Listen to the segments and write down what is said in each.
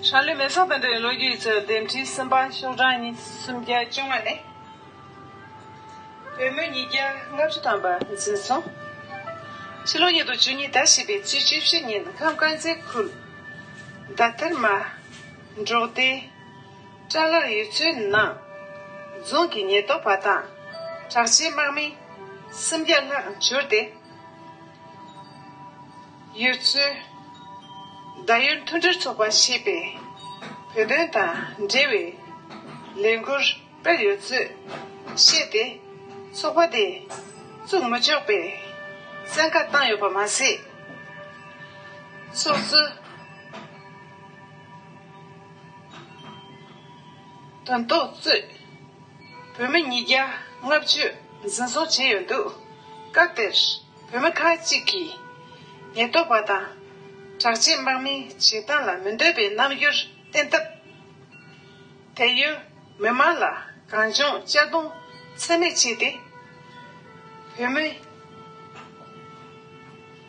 ཧྲ་ལི་མེ་སོག་དང་འབྲེལ་བའི་ལོ་རྒྱུས་ཀྱི་འདེམས་ཁྲིའི་སུམ་པ་ཤོག་གྲངས་གཉིས་སུམ་བརྒྱ་བཅོ་ལྔ་ནི། བོད་མི་ཉིས་བརྒྱ་ལྔ་བཅུ་ཐམ་པ་འཛིན་སོང། ཕྱི་ལོ་ཉིས་སྟོང་བཅུ་གཉིས་ཟླ་བཞི་པའི་ཚེས་བཅུ་བཞི་ཉིན་ཁམས་དཀར་མཛེས་ཁུལ། རྡ་ཐེར་མ། འབྲོག་སྡེ། སྐྲ་ལོར་ཡོད་ཚོད་སྣང། རྫོང་གི་ཉེར་བསྡོགས་པ་དང། གྲགས་ཆེན་དམག་མི། སུམ་བརྒྱ་ལྷག་འབྱོར་ཏེ། ཡོད་ཚོད། ཟླ་ཡུལ་མཐུན་སྒྲིལ་ཚོགས་པ་ཞེས་པས། བོད་དོན་དང་འབྲེལ་བའི། ལས་འགུལ་སྤེལ་ཡོད་ཚོད་བཤད་དེ། ཚོགས་པ་དེ། བཙུགས་མི་ཆོག་པའི། བཙན་བཀའ་བཏང་ཡོད་པ་མ་ཟད། ཚོགས་གཙོ། དོན་རྟོགས་རྩོད། བོད་མི་ཉིས་བརྒྱ་ལྔ་བཅུ་འཛིན་བཟུང་བྱས་ཡོད་འདུག་སྐབས་དེར་བོད་མི་ཁག་ཅིག་གིས། ཉེན་རྟོག་པ་དང་དྲག་ཆས་དམག་མིའི་བྱེད་སྟངས་ལ་མི་འདོད་པའི་རྣམ་འགྱུར་བསྟན་སྟབས། དེར་ཡོད་མི་མང་ལ་གང་བྱུང་གཅར་རྡུང་ཚད་མེད་བྱས་ཏེ། བོད་མི།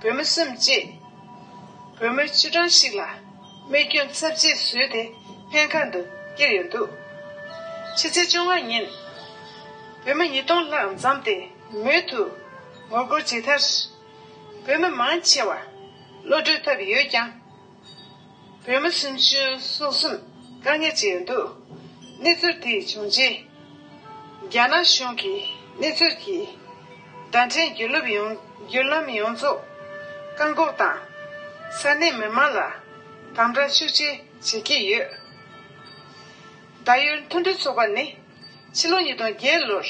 བུ་མོ་སེམས་བསྐྱེད། བུ་མོ་ཆུ་གྲང་ཞིག་ལ་རྨས་སྐྱོན་ཚབས་ཆེ་བཟོས་ཏེ་སྨན་ཁང་དུ་བསྐྱལ་ཡོད་འདུག་ཕྱི་ཚེས་བཅོ་ལྔ་ཉིན། བུ་མོ་ཉིས་སྟོང་ལྷག་འཛམས་ཏེ་མུས་ཐུ་ངོ་རྒོལ་བྱས་མཐར། བུ་མོ་མང་ཆེ་བ་བློ་གྲོས་ཐབས་ཡོད་ཀྱང། བོད་མི་སུམ་ཅུ་སོ་གསུམ་དཀའ་ངལ་ཅི་ཡང་འདུག་གནས་ཚུལ་དེ་བྱུང་རྗེས། རྒྱ་ནག་གཞུང་གིས་གནས་ཚུལ་གྱི་བརྡ་འཕྲིན་བརྒྱུད་ལམ་ཡོངས་རྫོགས་བཀག་འགོག་དང། ས་གནས་མི་མང་ལ་དམ་དྲག་ཤུགས་ཆེ་བྱེད་ཀྱི་ཡོད། ད་ཡོད་མཐུན་སྒྲིལ་ཚོགས་པ་ནི་ཕྱི་ལོ་ཉིས་སྟོང་བརྒྱད་ལོར།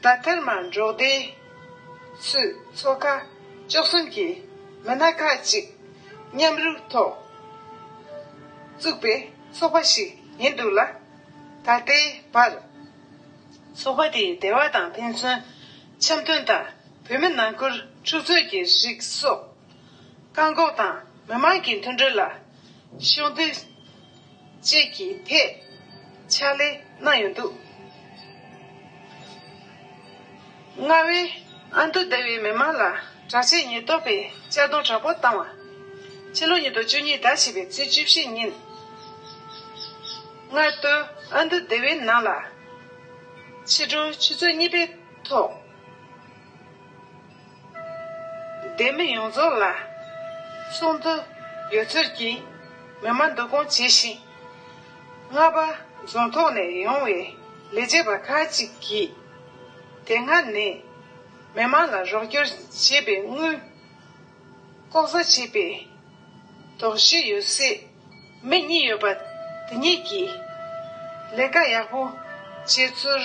བདག་དཀར་མར་འབྲོག་སྡེའི། སུ། ཚོ་ཁག། བཅུ་གསུམ་གྱི། མི་སྣ་ཁག་གཅིག། མཉམ་རུབ་ཐོག། བཙུགས་པའི། ཚོགས་པ་ཞིག་ཡིན་འདུག་ལ། ད་ལྟའི་བར། ཚོགས་པ་དེའི་སྡེ་བ་དང་ཕན་ཚུན། འཆམ་མཐུན་དང་བོད་མི་ནང་ཁུལ་འཁྲུག་རྩོད་ཀྱི་རིགས་སོགས། བཀག་འགོག་དང་མི་མང་གི་མཐུན་སྒྲིལ་ལ། ཤོག་སྡེ། བཅས་ཀྱི་ཐད་ཕྱག་ལས་གནང་ཡོད་འདུག། རྔ་བའི་ཨ་མདོ་སྡེ་བའི་མི་མང་ལ་དྲག་ཆས་ཉེན་རྟོག་པས་གཅར་རྡུང་དྲག་པོ་བཏང་བ། ཕྱི་ལོ་ཉིས་སྟོང་བཅུ་གཉིས་ཟླ་བཞི་པའི་ཚེས་བཅུ་བཞི་ཉིན། རྔ་སྟོད་ཨ་མདོ་སྡེ་བའི་ནང་ལ། ཕྱི་དྲོ་ཆུ་ཚོད་གཉིས་པའི་ཐོག། སྡེ་མི་ཡོངས་རྫོགས་ལ། གསུང་དུ། ཡོད་ཚོད་ཀྱིས། མི་དམངས་བསྡུ་སྐོང་བྱས་ཤིང། རྔ་པ་རྫོང་ཐོག་ནས་ཡོང་བའི་ལས་བྱེད་པ་ཁག་ཅིག་གིས། དེ་སྔ་ནས་མི་དམངས་ལ་རོགས་སྐྱོར་བྱེད་པའི་དངུལ། ལྐོག་ཟ་བྱས་པས། དོགས་གཞི་ཡོད་སྲིད། མི་གཉིས་ཡོད་པ་དེ་གཉིས་ཀྱིས། ལས་ཀ་ཡག་པོ་བྱས་ཚུལ།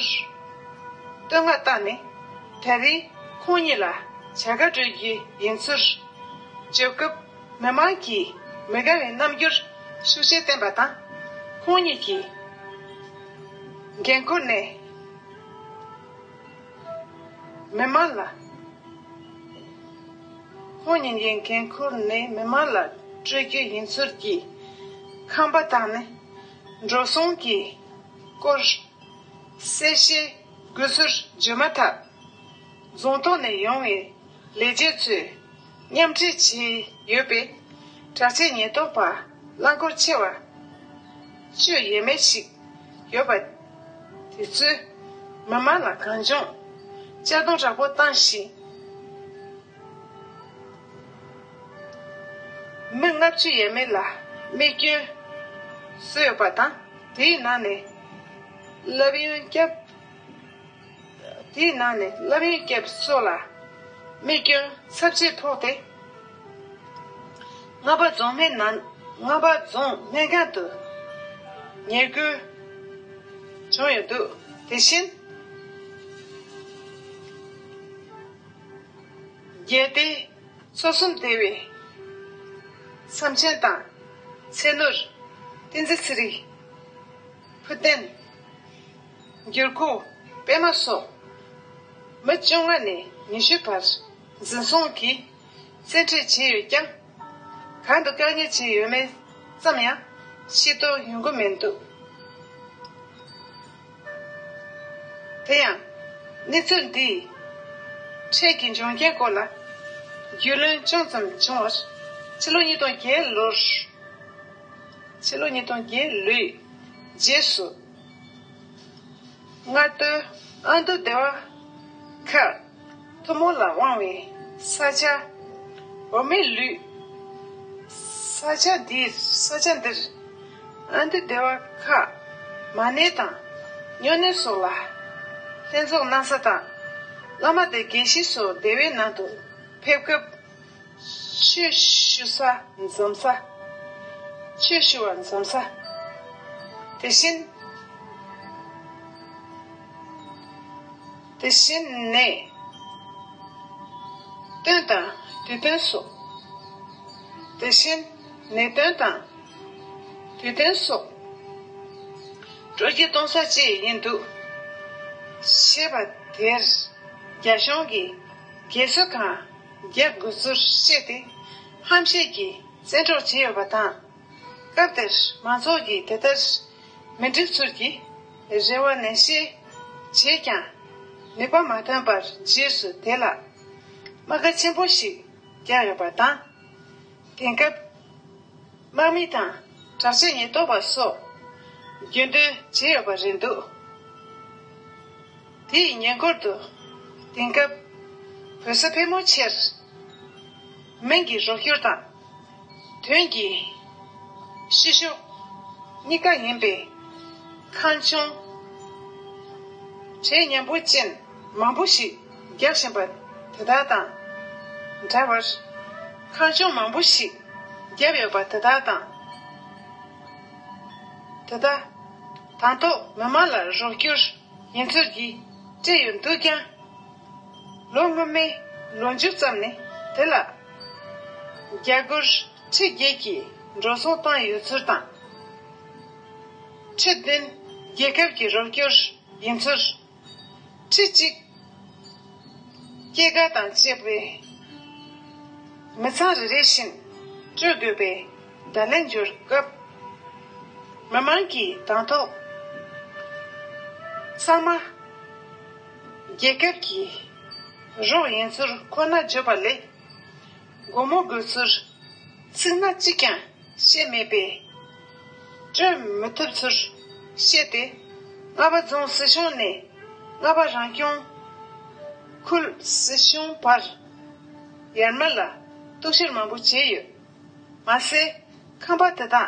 བསྟོད་བསྔགས་བཏང་ནས་ད་རེས་ཁོང་གཉིས་ལ་བྱ་དགའ་སྤྲོད་རྒྱུ་ཡིན་ཚུལ་བརྗོད་སྐབས་མི་མང་གིས་མི་དགའ་བའི་རྣམ་འགྱུར་ཤུགས་ཆེན་བསྟན་པ་དང། ཁོང་གཉིས་ཀྱིས་འགན་ཁུར་ནས་མི་མང་ལ་ཁོང་ཉིད་ཀྱིས་འགན་ཁུར་ནས་མི་དམངས་ལ་སྤྲོད་རྒྱུ་ཡིན་ཚུལ་གྱི་ཁང་པ་དང་ནི་འགྲོ་སོང་གི་སྐོར་གསལ་བཤད་དགོས་ཚུལ་བརྗོད་མ་ཐག་རྫོང་ཐོག་ནས་ཡོང་བའི་ལས་བྱེད་ཚོས་མཉམ་འབྲེལ་བྱས་ཡོད་པས་དྲག་ཆས་ཉེན་རྟོག་པ་རླངས་འཁོར་ཆེ་བ་སྤྱོད་ཡས་མས་ཤིག་ཡོད་པ། དེ་ཚོས། མི་མང་ལ་གང་བྱུང། གཅར་རྡུང་དྲག་པོ་བཏང་ཞིང། མི་ལྔ་བཅུ་ཡས་མས་ལ་རྨས་སྐྱོན་བཟོས་ཡོད་པ་དང། དེའི་ནང་ནས་སློབ་ཡོན་སྐྱབས། དེའི་ནང་ནས་སློབ་ཡོན་སྐྱབས་སོགས་ལ་རྨས་སྐྱོན་ཚབས་ཆེན་ཕོག་སྟེ། རྔ་པ་རྫོང་སྨད་ནང་རྔ་པ་རྫོང་སྨད་སྒང་དུ་ཉེར་བསྐུལ་བྱུང་ཡོད་འདུག་དེ་བཞིན། རྒྱལ་སྡེ་མཚོ་གསུམ་སྡེ་བའི་བསམ་ཆེན་དང་ཚེ་ནུར། བསྟན་འཛིན་ཚེ་རིང། བུ་བསྟན་འགྱུར་ཁུ་པདྨ་སོགས་མི་བཅོ་ལྔ་ནས་ཉི་ཤུའི་བར། འཛིན་བཟུང་གིས་བཙན་ཁྲིད་བྱས་ཡོད་ཀྱང། གང་དུ་བཀག་ཉར་བྱས་ཡོད་མེད་ཙམ་ཡང་ཤེས་རྟོགས་ཡོང་གི་མི་འདུག་དེ་ཡང། གནས་ཚུལ་འདིའི་འཕྲལ་གྱི་འབྱུང་རྐྱེན་སྐོར་ལ་རྒྱུས་ལོན་ཅུང་ཙམ་བྱུང་བར། ཕྱི་ལོ་ཉིས་སྟོང་བརྒྱད་ལོར། ཕྱི་ལོ་ཉིས་སྟོང་བརྒྱད་ལོའི་རྗེས་སུ། མངགས་ཐོའི་ཨ་མདོ་སྡེ་བ་ཁག། མཐུ་མོ་ལ་དབང་བའི་ས་ཆ། འོ་མའི་ལུས། ས་ཆ་འདིར་ས་ཆ་འདིར། ཨ་འདུས་སྡེ་བ་ཁ། མ་སྣེ་དང། སྨྱོ་སྣེ་སོགས་ལ། ལྷན་ཚོགས་གནང་ས་དང། བླ་མ་སྡེ་དགེ་བཤེས་སོགས་སྡེ་བའི་ནང་དུ་ཕེབས་སྐབས། ཆོས་ཞུ་ས་འཛོམས་ས། ཆོས་ཞུ་བ་འཛོམས་ས། དེ་བཞིན། དེ་བཞིན་ནས། དོན་དང་དུས་སྟོན་སོགས། དེ་བཞིན་ནས་དོན་དང་དུས་སྟོན་སོགས། དྲོ་སྐྱིད་གཏོང་ས་བཅས་ཡིན་འདུག། ཞེས་པ་དེར་རྒྱ་གཞུང་གིས་རྒྱལ་གསོལ་གང་རྒྱག་དགོས་ཚུལ་བཤད་དེ། ཧམ་བཤད་ཀྱིས་བཙན་འཕྲོག་བྱས་ཡོད་པ་དང། སྐབས་དེར་མང་ཚོགས་ཀྱིས་དེ་ལྟར་མི་འགྲིག་ཚུལ་གྱིས། རེ་བ་ནན་བཤད་བྱས་ཀྱང། ནུས་པ་མ་ཐོན་པར་རྗེས་སུ་དེད་ལ། རྨ་ཁ་ཆེན་པོ་ཞིག་རྒྱག་ཡོད་པ་དང། དེང་སྐབས། དམག་མི་དང་དྲག་ཆས་ཉེན་རྟོག་པ་སོགས། རྒྱུན་སྡོད་བྱས་ཡོད་པ་རེད་འདུག་དེ་ཡི་ཉེ་འཁོར་དུ། དེང་སྐབས། བོད་ས་ཕལ་མོ་ཆེར། མིང་གི་རོགས་སྐྱོར་དང། དོན་གྱི་ཤེས་བྱ་གཉིས་ཀ་ཡིན་པས། ཁང་ཆུང་གྲལ་མཉམ་པོ་ཅན་མང་པོ་ཞིག་རྒྱག་བཞིན་པ་དེ་དག་དང་འདྲ་བར། ཁང་ཆུང་མང་པོ་ཞིག་བརྒྱབ་ཡོད་པ་དེ་དག་དང། དེ་དག་དང་ཐོག་མི་དམངས་ལ་རོགས་སྐྱོར། ཉན་ཐོས་ཀྱིས་སྤྲད་ཡོད་འདུག་ཀྱང། ལོ་སྔོན་མའི་ལོ་མཇུག་ཙམ་ནས་དེ་ལ་རྒྱ་སྒོར་ཁྲི་བརྒྱད་ཀྱི་འགྲོ་སོང་བཏང་ཡོད་ཚུལ་དང། ཁྲི་བདུན་རྒྱལ་ཁབ་ཀྱི་རོགས་སྐྱོར་ཡིན་ཚུལ། ཁྲི་གཅིག་སྐྱེད་ཀ་དང་བཅས་པའི་མི་ཚང་རེ་རེ་བཞིན་སྤྲོད་དགོས་པའི། བརྡ་ལན་འབྱོར་སྐབས། མི་དམངས་ཀྱི་དང་ཐོག་གཙང་མ། རྒྱལ་ཁབ་ཀྱི་རོགས་ཡིན་ཚུལ་ཁོ་ན་བརྗོད་པ་ལས། སྒོར་མོ་དགོས་ཚུལ་ཚིག་སྣ་གཅིག་ཀྱང་བཤད་མེད་པས། སྤྲོད་མི་ཐུབ་ཚུལ་བཤད་དེ། རྔ་པ་རྫོང་སྲིད་གཞུང་ནས་རྔ་པ་རང་སྐྱོང་ཁུལ་སྲིད་གཞུང་བར་ཡར་མར་ལ་གཏུག་བཤེར་མང་པོ་བྱས་ཡོད། མ་ཟད། ཁང་པ་དེ་དག་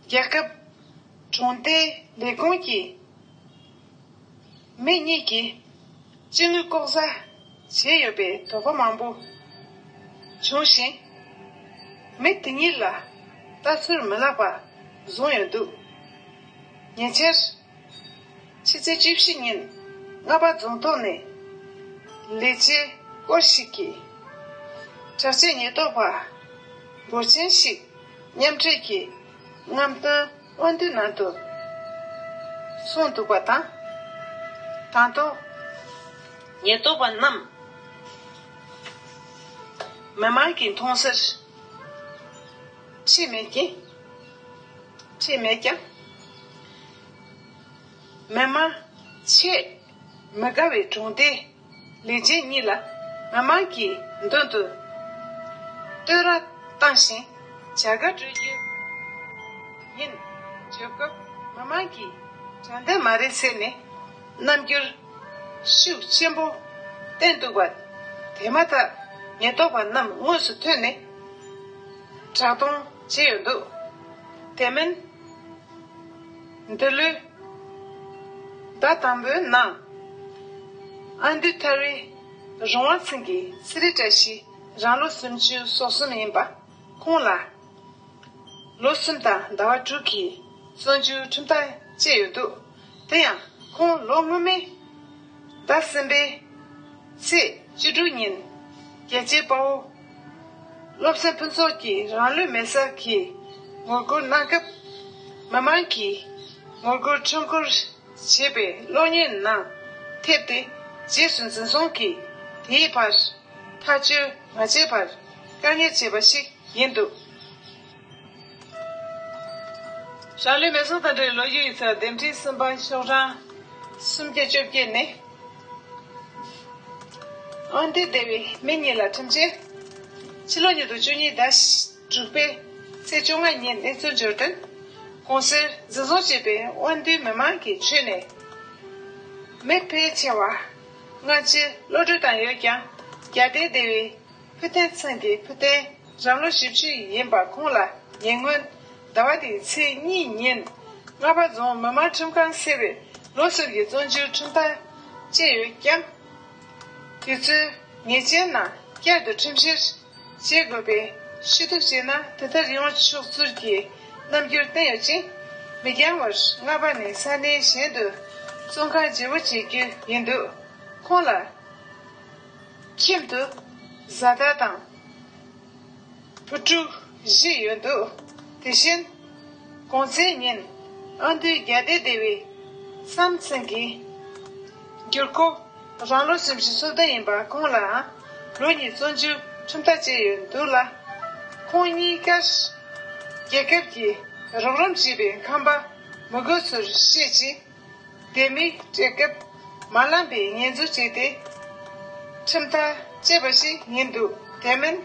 རྒྱལ་ཁབ། གྲོང་རྡལ་ལས་ཁུངས་ཀྱིས། མི་གཉིས་ཀྱི་སྤྱི་དངུལ་ལྐོག་ཟ་བྱས་ཡོད་པའི་དོགས་པ་མང་པོ་བྱུང་ཞིང། མི་དེ་གཉིས་ལ་ལྟ་ཚུལ་མི་ལག་པ་བཟུང་ཡོད་འདུག་ཉེ་ཆར། ཕྱི་ཚེས་བཅུ་བཞི་ཉིན་རྔ་པ་རྫོང་ཐོག་ནས། ལས་བྱེད་སྐོར་ཞིག་གིས། དྲག་ཆས་ཉེན་རྟོག་པ་འབོར་ཆེན་ཞིག་མཉམ་འབྲེལ་གྱིས་རྔམ་སྟོན་དབང་བསྡུའི་ནང་དུ་སོང་འདུག་པ་དང། དང་ཐོག་ཉེན་རྟོག་པ་རྣམས་མི་མང་གི་མཐོང་སར་ཆས་མེད་ཀྱང། མི་མང། ཆེས་མི་དགའ་བའི་གྲོང་སྡེ། ལས་བྱེད་གཉིས་ལ་མི་མང་གི་མདུན་དུ་བསྟོད་ར་བཏང་ཞིང་བྱ་དགའ་སྤྲོད་རྒྱུ་ཡིན། བྱེད་སྐབས་མི་མང་གི་དྲན་རྟེན་མ་རེད་ཟེར་ནས་རྣམ་འགྱུར་ཤུགས་ཆེན་པོ་བསྟན་འདུག་པ་དེ་མ་ཐག་ཉེན་རྟོག་པ་རྣམས་དངོས་སུ་ཐོན་ནས་དྲག་གཏོང་བྱས་ཡོད་འདུག་དེ་མིན། འདི་ལོའི་ཟླ་དང་པོའི་ནང། ཨ་འདུས་ཐར་བའི་རོང་བ་ཚིང་གི་སི་རི་བཀྲ་ཤིས་རང་ལོ་སུམ་ཅུ་སོ་གསུམ་ཡིན་པ། ཁོང་ལ་ལོ་གསུམ་དང་ཟླ་བ་དྲུག་གི་གསོན་བཅུའི་ཁྲིམས་ཐག་བཅད་ཡོད་འདུག། དེ་ཡང་ཁོང་ལོ་སྔོན་མའི་ཟླ་གསུམ་པའི་ཚེས་བཅུ་དྲུག་ཉིན་རྒྱལ་གཅེས་དཔའ་བོ་བློ་བཟང་ཕུན་ཚོགས་ཀྱིས་རང་ལུས་མེ་སར་གྱིས་ངོ་རྒོལ་གནང་སྐབས། མི་མང་གིས་ངོ་རྒོལ་མཆོད་འཁོར་བྱེད་པའི་གློག་བརྙན་ནང་ཐེབས་ཏེ་རྗེས་སུ་འཛིན་བཟུང་གིས་དེའི་བར་ཐག་གཅོད་མ་བྱས་པར་བཀག་ཉར་བྱས་པ་ཞིག་ཡིན་འདུག། རང་ལུས་མེར་སྲེག་དང་འབྲེལ་བའི་ལོ་རྒྱུས་ཡིག་ཚགས་འདེམས་ཁྲིད་གསུམ་པ་ཤོག་གྲངས་སུམ་བརྒྱ་བཅོ་བརྒྱད་ནི། དབང་ལྡན་སྡེ་བའི་མི་གཉིས་ལ་ཁྲིམས་ཆད། ཕྱི་ལོ་ཉིས་སྟོང་བཅུ་གཉིས་ཟླ་དྲུག་པའི་ཚེས་བཅོ་ལྔ་ཉིན་གནས་ཚུལ་འབྱོར་བསྟུན། གོང་གསལ་འཛིན་བཟུང་བྱས་པའི་དབང་ལྡན་མི་མང་གིས་ཆོས་ནས་མི་ཕལ་ཆེ་བ་སྔ་ཕྱིར་བློ་གྲོས་བཏང་ཡོད་ཀྱང་རྒྱ་ལྡན་སྡེ་བའི་ཕུ་ཐན་ཚང་གིས་ཕུ་ཐན་རང་ལོ་བཞི་བཅུ་ཡིན་པ་ཁོང་ལ་ཉེ་སྔོན། ཟླ་བ་འདིའི་ཚེས་གཉིས་ཉིན། རྔ་པ་རྫོང་མི་དམངས་ཁྲིམས་ཁང་ཟེར་བས་ལོ་གསར་གྱི་བཙོན་འཇུག་ཁྲིམས་ཐག་བཅད་ཡོད་སྐྱབས། དེ་ཚོའི་ཉེས་ཅན་རྣམས་བསྐྱར་དུ་ཁྲིམས་བཤེར་བྱེད་དགོས་པའི་ཞུ་གཏུག་བྱས་ན་དེ་ལྟར་ཡོང་ཆོག་ཚུལ་གྱི་རྣམ་འགྱུར་བསྟན་ཡོད་ཅིང། མི་འགྱངས་བར་རྔ་པ་ནས་ས་གནས་གཞན་དུ་བཙོན་ཁང་བརྗེ་བོ་བྱེད་རྒྱུ་ཡིན་འདུག་ཁོང་ལ། ཁྱིམ་དུ་བཟའ་ཟླ་དང། བུ་ཕྲུག་བཞི་ཡོད་འདུག་དེ་བཞིན། གོང་ཚེས་ཉིན་ཨ་མདོའི་རྒྱ་སྡེ་སྡེ་བའི་བསམ་ཚུལ་གྱིས། འགྱུར་ཁོ་རང་ལོ་ཞིབ་བཞི་སོ་བདུན་ཡིན་པ་ཁོང་ལའང་ལོ་གཉིས་བཙོན་འཇུག་ཁྲིམས་ཐག་བཅད་ཡོད་འདུག་ལ། ཁོང་གཉིས་ཀར་རྒྱལ་ཁབ་ཀྱིས་རོགས་རམ་བྱས་པའི་ཁང་པ་མི་དགོས་ཚུལ་བཤད་ཅིང། དེ་མིན་བཀྲེས་སྐབས་མ་བླངས་པའི་ངན་རྫུན་བྱས་ཏེ། ཁྲིམས་ཐག་བཅད་པ་ཞིག་ཡིན་འདུག་དེ་མིན།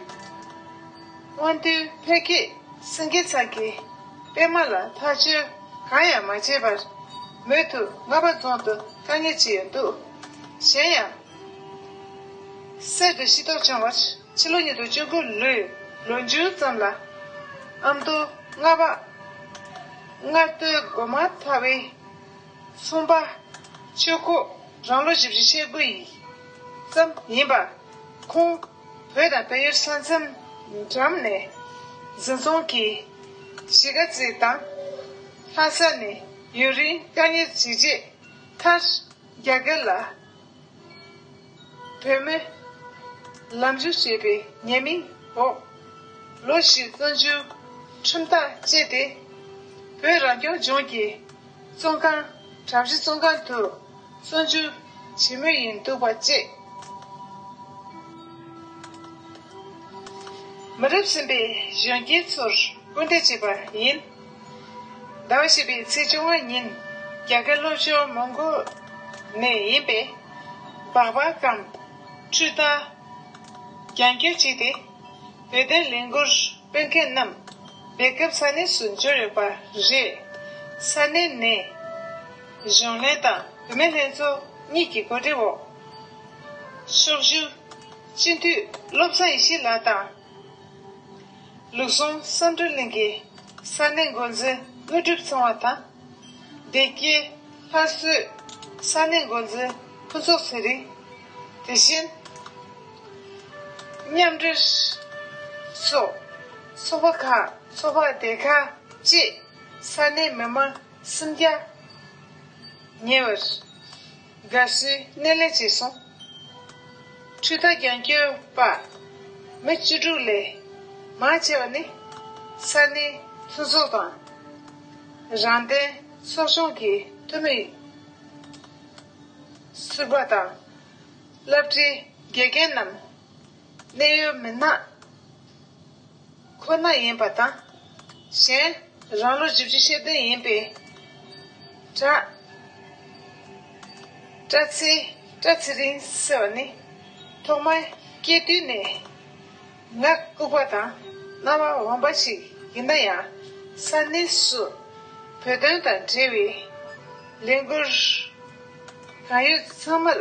སྔོན་ཐོན་འཕེལ་རྒྱས་སྲིད་འགན་ཚང་གིས་པད་མ་ལ་ཐག་གཅོད་གང་ཡང་མ་བྱས་པར། མོས་དུ་རྔ་པ་རྫོང་དུ་བཀག་ཉར་བྱས་ཡོད་འདུག་གཞན་ཡང། གསེར་དུ་ཤི་དོགས་བྱུང་བར་ཕྱི་ལོ་ཉིས་སྟོང་བཅུ་དགུ་ལོའི་ལོ་མཇུག་ཙམ་ལ། ཨ་མདོ་རྔ་པ། ལྔ་བསྟོད་སྒོ་མ་ཚ་བའི། གསུམ་པ། ཆོས་སྐུ་རང་ལོ་བཞི་བཞི་ཆས་དགུ་ཡི། ཙམ་ཡིན་པ། ཁོང། བོད་དང་བལ་ཡུལ་ས་མཚམས་འགྲམ་ནས། གཟིམ་ཚོང་གིས། གཞིས་ཀ་རྩེ་དང། ལྷ་ས་ནས་ཡུན་རིང་བཀའ་གཉེར་བྱས་རྗེས། མཐར། རྒྱ་གར་ལ། བོད་མི། ལམ་རྒྱུད་ཅེས་པའི་ཉེས་མིང་འོག་ལོ་བཞི་བཙོན་འཇུག་ཁྲིམས་ཐག་བཅད་དེ། བོད་རང་སྐྱོང་ལྗོངས་ཀྱི་བཙོན་ཁང་གྲབས་གཞི་བཙོན་ཁང་དུ་བཙོན་འཇུག་བྱེད་མུས་ཡིན་འདུག་པ་བཅས། མི་རབས་གསུམ་པའི་གཞོན་སྐྱེས་ཚོར་སྐུལ་འདེད་བྱས་པ་ཡིན། ཟླ་བ་བཞི་པའི་ཚེས་བཅོ་ལྔ་ཉིན་རྒྱ་གར་སློབ་ཆུང་མོང་གོ་ནས་ཡིན་པའི་སྦག་སྦག་གམ། འཕྲུལ་རྟ། རྒྱང་སྐྱོད་བྱས་ཏེ། བོད་དོན་ལས་འགུལ་སྤེལ་མཁན་རྣམས་སྦེལ་སྐབས་ས་གནས་སུ་འབྱོར་ཡོད་པ་རེད། ས་གནས་ནས་གཞོན་ལྷན་དང་བུད་མེད་ལྷན་ཚོགས་གཉིས་ཀྱི་གོ་སྒྲིག་འོག། ཕྱོགས་བཞུགས་སྤྱི་འཐུས་བློ་བཟང་ཡེ་ཤེས་ལགས་དང། ལུགས་ཟུང་བསམ་སྒྲུབ་གླིང་གི་ས་གནས་འགོ་འཛིན་དངོས་གྲུབ་ཚང་བ་དང། བདེ་སྐྱིད་ལྷ་བསོས་ས་གནས་འགོ་འཛིན་ཕུན་ཚོགས་ཚེ་རིང། དེ་བཞིན། མཉམ་འབྲེལ། སོགས་ཚོགས་པ་ཁག་ཚོགས་པ་སྡེ་ཁག་བཅས་ས་གནས་མི་མང་སུམ་བརྒྱ་ཉེ་བར། དགའ་བསུའི་གནས་ལས་ཅེས་གསུངས། འཕྲུལ་རྟ་རྒྱང་སྐྱོད་པདྨ་བཅུ་དྲུག་ལས། མང་ཆེ་བ་ནི། ས་གནས་མཐུན་ཚོགས་དང། རང་བསྟན་ཚོགས་ཆུང་གི་འཐུས་མི། ཟུར་པ་དང། བླ་བྲེ་དགེ་རྒན་རྣམས། གནས་ཡུལ་མི་སྣ་ཁོ་ན་ཡིན་པ་དང། གཞན། རང་ལོ་བཞི་བཅུ་ཤེས་ལྡན་ཡིན་པའི་གྲྭ། བཀྲ་ཚེ། Tra Tsering། ཟེར་བ་ནི། ཐོག་མར་སྐྱེས་དུས་ནས་ངག་ལྐུགས་པ་དང་རྣ་བ་འོན་པ་ཞིག་ཡིན་ན་ཡང། ས་གནས་སུ་བོད་དོན་དང་འབྲེལ་བའི་ལས་འགུལ་གང་ཡོད་ཚང་མར།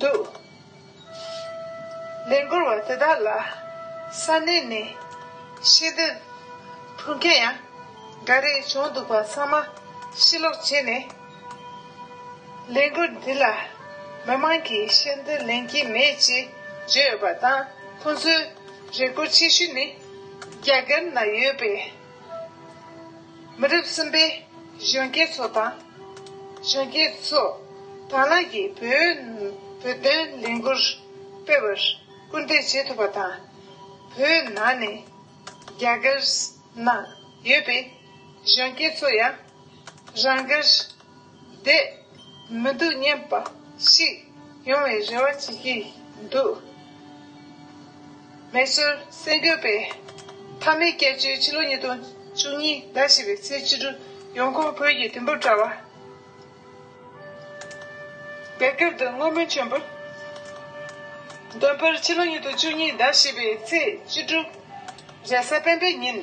འདུག། ལས་འགུལ་བ་དེ་དག་ལ་ས་གནས་ནས་ཤེས་འདོད་ཕུལ་མཁན་ཡང་འགའ་རེ་བྱུང་འདུག་པ་ཚང་མ་ཕྱིར་ལོག་བྱས་ནས། ལས་འགུལ་འདི་ལ་མི་མང་གིས་ཤེས་འདོད་ལེན་གྱི་མེད་ཅེས་བརྗོད་ཡོད་པ་དང་ཁོང་ཚོའི་རེ་སྐུལ་ཆེ་ཤོས་ནི་རྒྱ་གར་ན་ཡོད་པའི། མི་རབས་གསུམ་པའི་གཞོན་སྐྱེས་ཚོ་དང། གཞོན་སྐྱེས་ཚོས་དང་བླངས་ཀྱིས་བོད་བོད་དོན་ལས་འགུལ་སྤེལ་བར་སྐུལ་འདེད་བྱེད་ཐུབ་པ་དང། བོད་ནང་ནས་རྒྱ་གར་ནང་ཡོད་པའི་གཞོན་སྐྱེས་ཚོ་ཡང་རང་དགར། དེ། མི་སྡུག་བསྙེན་པ་ཞིག། ཡོང་བའི་རེ་བ་བྱེད་ཀྱི་འདུག། མེ་སོར་གསེར་འགྱུར་པའི། མཐའ་མའི་སྐྱབས་བཅོལ་ཕྱི་ལོ་ཉིས་སྟོང་བཅུ་གཉིས་ཟླ་བཞི་པའི་ཚེས་བཅུ་དྲུག་ཡོང་ཁུངས་བོད་ཀྱི་དུས་བབ་དྲ་བ། རྒྱ་གར་དུ་བསྔོ་སྨོན་ཆེན་པོ། འདོན་སྤེལ་ཕྱི་ལོ་ཉིས་སྟོང་བཅུ་གཉིས་ཟླ་བཞི་པའི་ཚེས་བཅུ་དྲུག། རྒྱལ་ས་པེན་པེ་ཉིན།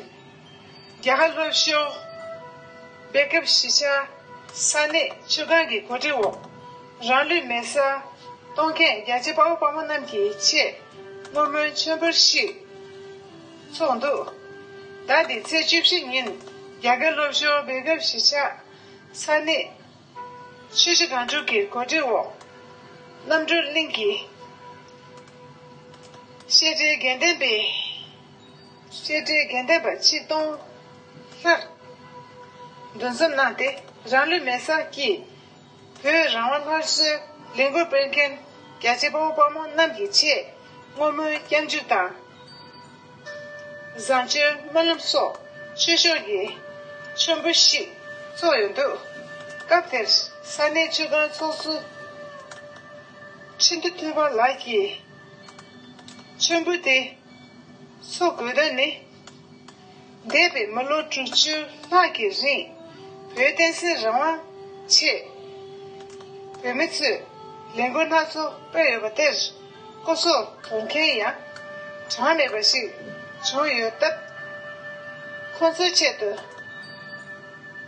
རྒྱལ་ཁབ་སློབ་གསོ། སྦེལ་ཀེབ་གཞིས་ཆགས། ས་གནས་ཆུ་སྒང་གི་གོ་སྒྲིག་འོག་རང་ལུས་མེ་སར་གཏོང་མཁན་རྒྱ་ཆེ་དཔའ་བོ་དཔའ་མོ་རྣམས་ཀྱི་ཆེད་བསྔོ་སྨོན་མཆོད་འབུལ་ཞིག་ཚོགས་འདུག་ཟླ་འདིའི་ཚེས་བཅུ་བཞི་ཉིན་རྒྱ་གར་སློབ་གསོ་སྦེལ་ཀེབ་གཞིས་ཆགས་ས་གནས་ཆུ་སྒང་དྲུག་གི་གོ་སྒྲིག་འོག་རྣམ་གྲོལ་གླིང་གི་བཤད་གྲྭའི་དགེ་ལྡན་པའི། བཤད་སྒྲའི་རྒྱན་ལྡན་པ་ཆིག་སྟོང་གསར། འདུ་འཛོམས་གནང་སྟེ་རང་ལུས་མེ་སར་བསྐྱིལ། བོད་རང་དབང་སླར་གསོའི་ལས་མགུར་སྤེལ་མཁན། རྒྱལ་གཅེས་དཔའ་བོ་དཔའ་མོ་རྣམས་ཀྱི་ཆེད། བསྔོ་སྨོན་སྐྱབས་འཇུག་དང། བཟང་སྤྱོད་སྨོན་ལམ་སོགས་ཆོས་ཕྱོགས་ཀྱི། མཆོད་འབུལ་ཞིག་ཚོགས་ཡོད་འདུག། སྐབས་དེར་ས་གནས་ཆོས་སྒར་ཚོགས་གཙོ། ཁྲི་འདུ་ཐུབ་པ་ལགས་ཀྱིས། མཆོད་འབུལ་དེ། སོགས་དགོས་དོན་ནི། འདས་པའི་མི་ལོ་དྲུག་ཅུ་ལྷག་གི་རིང། བོད་བསྟན་སྲིད་རང་དབང་ཆེད། བོད་མི་ཚོས་ལས་འགུལ་སྣ་ཚོགས་སྤེལ་ཡོད་པ་དེར། སྐུ་སྲོག་དོར་མཁན་ཡང་གྲངས་མེད་པ་ཞིག་བྱུང་ཡོད་སྟབས། ཁོང་ཚོའི་ཆེད་དུ་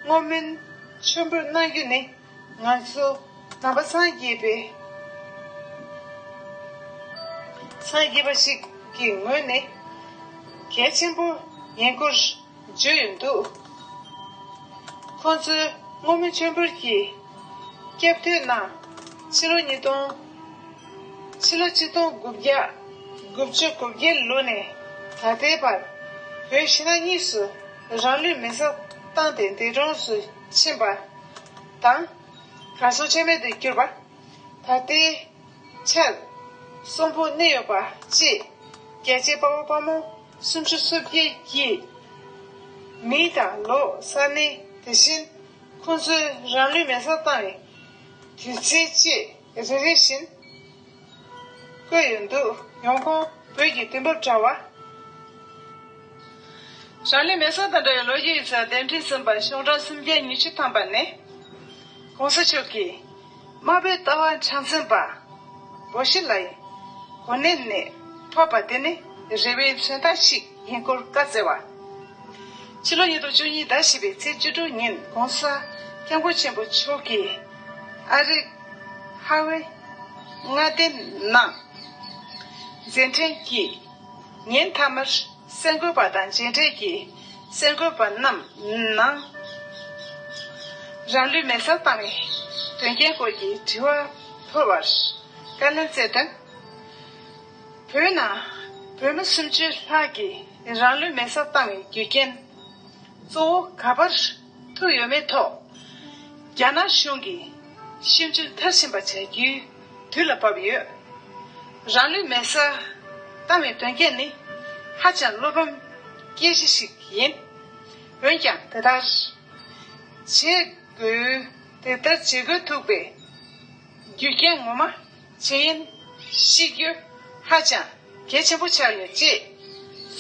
བསྔོ་སྨོན་ཆེན་པོ་གནང་རྒྱུ་ནི། ང་ཚོ་ནང་པ་སངས་རྒྱས་པའི་སངས་རྒྱས་པ་ཞིག་གི་ངོས་ནས་གལ་ཆེན་པོ་ཡིན་སྐོར་བརྗོད་ཡོད་འདུག་ཁོང་ཚོས་སྔོན་མོ་མཆོད་འབུལ་གྱི་སྐབས་ཐོས་ན་ཕྱི་ལོ་ཉིས་སྟོང། ཕྱི་ལོ་གཅིག་སྟོང་དགུ་བརྒྱ་དགུ་བཅུ་གོ་བརྒྱད་ལོ་ནས་ད་ལྟའི་བར་བོད་ཕྱི་ནང་གཉིས་སུ་རང་ལུས་མེ་བསྲེགས་བཏང་སྟེ་འདས་གྲོངས་སུ་ཕྱིན་པ། དང། གང་སོགས་ཕྱེ་མེད་དུ་གྱུར་པ། ད་ལྟའི། ཕྱིར། གསུམ་པོ་གནས་ཡོད་པ་གཅིག། རྒྱལ་བྱེད་དཔའ་བོ་དཔའ་མོ་སུམ་ཅུ་སོ་བརྒྱད་ཀྱིས། མི་དང་ལོ་གསར་གནས་དེ་བཞིན། ཁོ་ཚོའི་རང་ལུས་མེ་སར་བཏང་བའི། དུས་ཚེས་གཅིག། རེ་རེ་བཞིན། བཀོད་ཡོད་འདུག། ཡོང་ཁུངས། བོད་ཀྱི་དུས་བབ་དྲ་བ། ཞང་ལིས་མེ་སོག་དང་འདྲ་བའི་ལོ་རྒྱུས་ཡིག་ཚགས་གདན་ཁྲི་གསུམ་པ་གཤོག་སྒྲོན་སུམ་བརྒྱ་ཉི་ཤུ་ཐམ་པ་ནས། གོང་ས་མཆོག་གིས། དམར་པོའི་ལྟ་བ་འཆང་བཙུན་པ། བོ་ཤི་ལའི། གོ་གནས་ནས། ཐོབ་པ་དེ་ནི། རེ་བའི་མཚོན་རྟགས་ཤིག་ཡིན་སྐོར་བཀའ་བསྩལ་བ། ཕྱི་ལོ་ཉིས་སྟོང་བཅུ་གཉིས་ཟླ་བཞི་པའི་ཚེས་བཅུ་དྲུག་ཉིན་གོང་ས། སྐྱབས་མགོན་ཆེན་པོ་མཆོག་གིས། ཨ་རིག། ཧྭ་ཝེ། མངའ་སྡེ་ནང། མཛད་འཕྲིན་གྱིས། ཉིན་མཐའ་མར་གསར་འགོད་པ་དང་མཇལ་འཕྲད་ཀྱིས་གསར་འགོད་པ་རྣམས་ནང། རང་ལུས་མེར་བསྲེགས་བཏང་བའི་དོན་རྐྱེན་སྐོར་གྱི་དྲི་བ་ཕུལ་བར་བཀའ་ལན་སྩལ་དོན། བོད་ནང་བོད་མི་སུམ་ཅུ་ལྷག་གིས་རང་ལུས་མེར་བསྲེགས་བཏང་བའི་རྒྱུ་རྐྱེན་གཙོ་བོ་ག་པར། ཐུག་ཡོད་མེད་ཐོག་རྒྱ་ནག་གཞུང་གིས་ཞིབ་འཇུག་མཐར་ཕྱིན་པ་བྱ་རྒྱུའི་དུས་ལ་བབ་ཡོད། རང་ལུས་མེར་སྲེག་བཏང་བའི་དོན་རྐྱེན་ནི་ཧ་ཅང་བློ་ཕམ་སྐྱེ་གཞི་ཞིག་ཡིན། འོན་ཀྱང་དེ་ལྟར་བྱེད་དགོས། དེ་ལྟར་བྱེད་དགོས་ཐུག་པའི་རྒྱུ་རྐྱེན་ངོ་མ། བྱེད་ཡིན། ཤི་རྒྱུ་ཧ་ཅང་གལ་ཆེན་པོ་ཆགས་ཡོད། ཅེས་